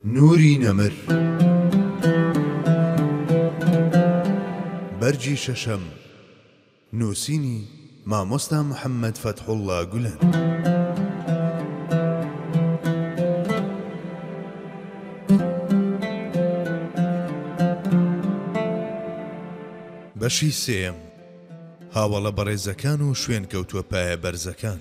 نوری نەمر بەرگی شەشەم نووسینی، مامۆستا محەمەد فەتحوڵا گولەن. بەشی سێیەم هاوەڵە بەڕێزەکان و شوێنکەوتووە پایە بەرزەکان.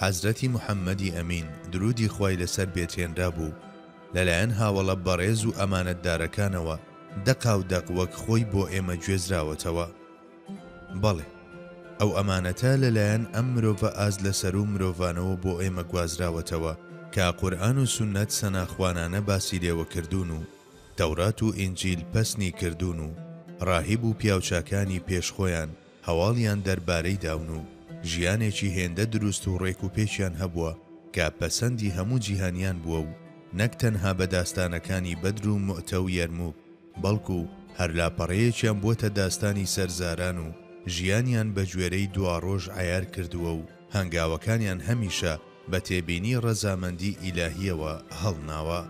حەزرەتی محەمەدی ئەمین درودی خوای لەسەر بێت هێنرابوو لەلایەن هاوەڵە بەڕێز و ئەمانەتدارەکانەوە دەقاو دەق وەک خۆی بۆ ئێمە گوێزراوەتەوە بەڵێ ئەو ئەمانەتە لەلایەن ئەم مرۆڤە ئاست لەسەرو مرۆڤانەوە بۆ ئێمە گوازراوەتەوە کە قورئان و سوننەت سەناخوانانە باسی لێوە کردوون و تەورات و ئینجیل پەسنی کردوون و ڕاهیب و پیاوچاکانی پێش خۆیان هەواڵیان دەربارەی داون و ژیانێکی هێندە دروست و ڕێک و پێکیان هەبووە کە پەسەندی هەموو جیهانیان بووە و نەک تەنها بە داستانەکانی بەدر و موئتە و یەرموک بەڵکو هەر لاپەڕەیەکیان بووەتە داستانی سەرزاران و ژیانیان بە گوێرەی دواڕۆژ عەیار کردووە و هەنگاوەکانیان هەمیشە بە تێبینی ڕەزامەندی ئیلاهییەوە هەڵناوە.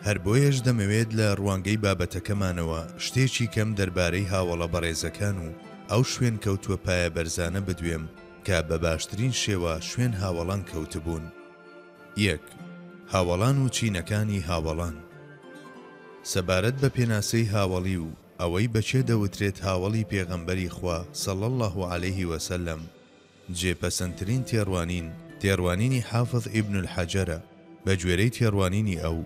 هەر بۆیەش دەمەوێت لە ڕوانگەی بابەتەکەمانەوە شتێکی کەم دەربارەی هاوەڵە بەڕێزەکان و ئەو شوێنکەوتووە پایەبەرزانە بدوێم کە بە باشترین شێوە شوێن هاوەڵان کەوتبوون. یەک. هاوەڵان و چینەکانی هاوەڵان. سەبارەت بە پێناسەی هاوەڵی و ئەوەی بە کێ دەوترێت هاوەڵی پێغەمبەری خوا صلی اللە علیه و سلم جێ پەسەندترین تێڕوانین، تێڕوانینی حافظ ئیبن الحەجەرە، بە گوێرەی تێڕوانینی ئەو،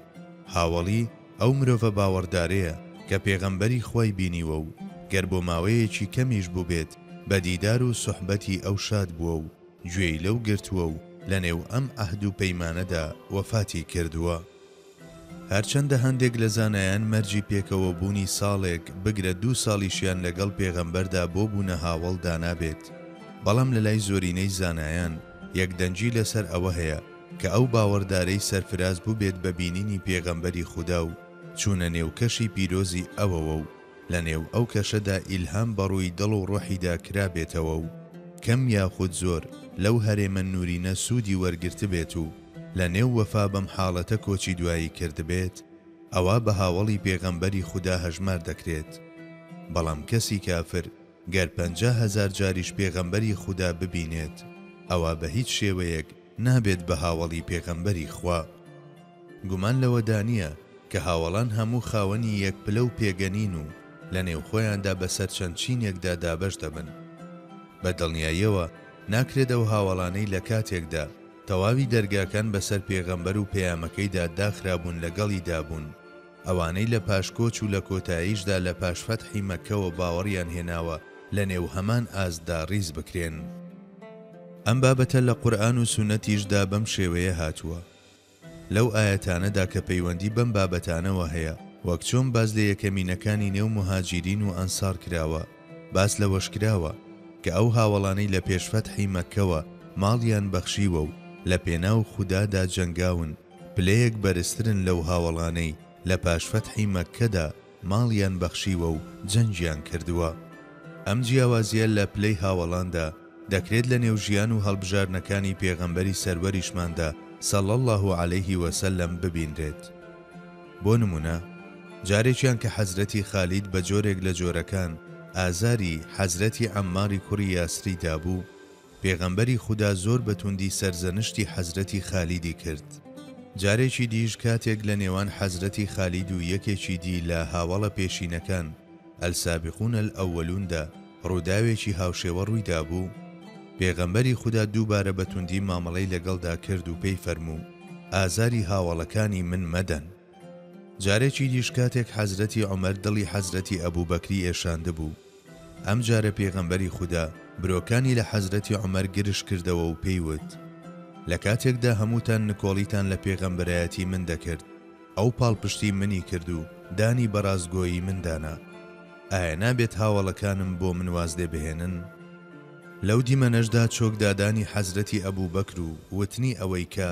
هاوەڵی، ئەو مرۆڤە باوەڕدارەیە، کە پێغەمبەری خوای بینیوە و گەر بۆ ماوەیەکی کەمیش بووبێت بە دیدار و سوحبەتی ئەو شاد بووە و گوێی لەو گرتووە و لەنێو ئەم عەهد و پەیمانەدا وەفاتی کردووە. هەرچەندە هەندێک لە زانایان مەرجی پێکەوەبوونی ساڵێک، بگرە دوو ساڵیشیان لەگەڵ پێغەمبەردا بۆ بوونە هاوەڵ دانابێت، بەڵام لەلای زۆرینەی زانایان یەکدەنگی لەسەر ئەوە هەیە کە ئەو باوەڕدارەی سەرفراز بووبێت بە بینینی پێغەمبەری خودا و چوونە نێو کەشی پیرۆزی ئەوەوە و لە نێو ئەو کەشەدا ئیلهام بە ڕووی دڵ و ڕۆحیدا کرابێتەوە و کەم یاخود زۆر لەو هەرێمە نوورینە سوودی وەرگرتبێت و لە نێو وەفا بەم حاڵەتە کۆچی دوایی کردبێت ئەوا بە هاوەڵی پێغەمبەری خودا هەژمار دەکرێت بەڵام کەسی کافر گەر پەنجا هەزار جاریش پێغەمبەری خودا ببینێت ئەوا بە هیچ شێوەیەک نابێت بە هاوەڵی پێغەمبەری خوا. گومان لەوەدانیە کە هاوەڵان هەموو خاوەنی یەک پلە و پێگە نین و لە نێو خۆیاندا بەسەر چەند چینێکدا دابەش دەبن. بە دڵنیاییەوە ناکرێت ئەو هاوەڵانەی لە کاتێکدا تەواوی دەرگاکان بەسەر پێغەمبەر و پەیامەکەیدا داخرابوون لەگەڵیدا بوون، ئەوانەی لە پاش کۆچ و لە کۆتاییشدا لە پاش فەتحی مەککەوە باوەڕیان هێناوە لە نێو هەمان ئاستدا ڕیز بکرێن. ئەم بابەتە لە قورئان و سوننەتیشدا بەم شێوەیە هاتووە. لەو ئایەتانەدا کە پەیوەندی بەم بابەتانەوە هەیە، وەک چۆن باس لە یەکەمینەکانی نێو موهاجیرین و ئەنسار کراوە، باس لەوەش کراوە، کە ئەو هاوەڵانەی لە پێش فەتحی مەککەوە ماڵیان بەخشیوە و لە پێناو خودادا جەنگاون، پلەیەک بەرزترن لەو هاوەڵانەی لە پاش فەتحی مەککەدا، ماڵیان بەخشیوە و جەنگیان کردووە. ئەم جیاوازییە لە پلەی هاوەڵاندا، دەکرێت لە نێو ژیان و هەڵبژاردنەکانی پێغەمبەری سەروەریشماندا صلی اللە علیه و سلم ببینرێت. بۆ نموونە، جارێکیان کە حەزرەتی خالید بە جۆرێک لە جۆرەکان ئازاری، حەزرەتی عەمماری کوڕی یاسری دابوو، پێغەمبەری خودا زۆر بە توندی سەرزەنشتی حەزرەتی خالیدی کرد. جارێکی دیش کاتێک لە نێوان حەزرەتی خالید و یەکێکی دی لە هاوەڵە پێشینەکان، السابقون الاولون، دا، ڕووداوێکی هاوشێوە ڕووی دابوو، پێغەمبەری خودا دووبارە بە توندی مامەڵەی لەگەڵدا کرد و پێی فەرموو، ئازاری هاوەڵەکانی من مەدەن. جارێکی دیش کاتێک حەزرەتی عومەر دڵی حەزرەتی ئەبوبەکری ئێشاندبوو، ئەم جارە پێغەمبەری خودا برۆکانی لە حەزرەتی عومەر گرژ کردەوە و پێی وت، لە کاتێکدا هەمووتان نکۆڵیتان لە پێغەمبەرایەتی من دەکرد، ئەو پاڵپشتی منی کرد و دانی بە ڕاستگۆیی من دانا، ئایا نابێت هاوەڵەکانم بۆ من واز لێ بهێنن؟ لەو دیمەنەشدا چۆکدادانی حەزرەتی ئەبوبەکر و وتنی ئەوەی کە،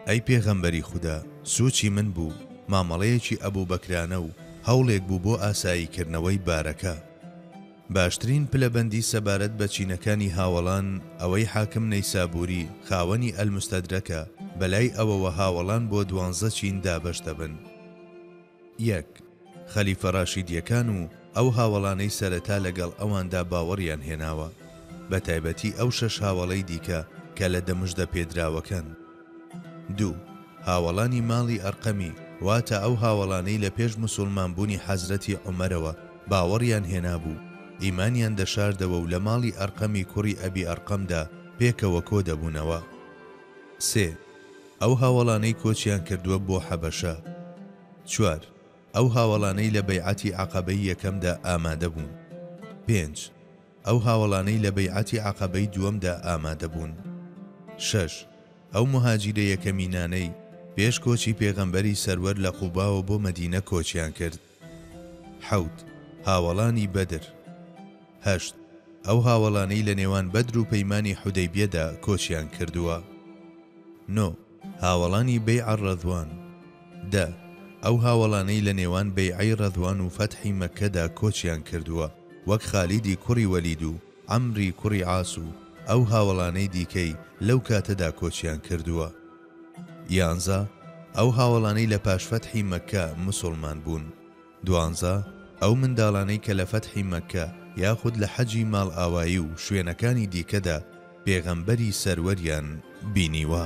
ئەی پێغەمبەری خودا سوچی من بوو مامەڵەیەکی ئەبوبەکرانە و هەوڵێک بوو بۆ ئاسایی کردنەوەی بارەکە. باشترین پلەبەندی سەبارەت بە چینەکانی هاوەڵان ئەوەی حاکم نەیسابوری خاوەنی المستدرکە بەلای ئەوەوە هاوەڵان بۆ دوانزە چین دابەش دەبن. یەک، خەلیفە ڕاشیدیەکان و ئەو هاوەڵانەی سەرەتا لەگەڵ ئەواندا باوەڕیان هێناوە، بە تایبەتی ئەو شەش هاوەڵەی دیکە کە لە دەمشدە پێدراوەکەن. دوو، هاوەڵانی ماڵی ئەرقەمی، واتە ئەو هاوەڵانەی لە پێش مسوڵمان بوونی حەزرەتی عومەرەوە باوەڕیان هێنابوو، ئیمانیان دەشاردەوە و لە ماڵی ئەرقەمی کوڕی ئەبی ئەرقەمدا پێکەوە کۆدەبوونەوە. سێ، ئەو هاوەڵانەی کۆچیان کردووە بۆ حەبەشە. چوار، ئەو هاوەڵانەی لە بەیعەتی عەقەبەی یەکەمدا ئامادەبوون. پێنج، ئەو هاوەڵانەی لە بەیعەتی عەقەبەی دووەمدا ئامادەبوون. شەش، ئەو موهاجیرە یەکەمینانەی پێش کۆچی پێغەمبەری سەروەر لە قوباوە بۆ مەدینە کۆچیان کرد. حەوت، هاوەڵانی بەدر. هەشت، ئەو هاوەڵانەی لە نێوان بەدر و پەیمانی حودەیبیەدا کۆچیان کردووە. نۆ، هاوەڵانی بەیع الرضوان. دە، ئەو هاوەڵانەی لە نێوان بەیعەی رضوان و فەتحی مەککەدا کۆچیان کردووە وەک خالیدی کوڕی وەلید و عەمری کوڕی عاس و ئەو هاوەڵانەی دیکەی لەو کاتەدا کۆچیان کردووە. یانزە، ئەو هاوەڵانەی لە پاش فەتحی مەککە مسوڵمان بوون. دوانزە، ئەو منداڵانەی کە لە فەتحی مەککە یاخود لە حەجی ماڵئاوایی و شوێنەکانی دیکەدا پێغەمبەری سەروەریان بینیوە.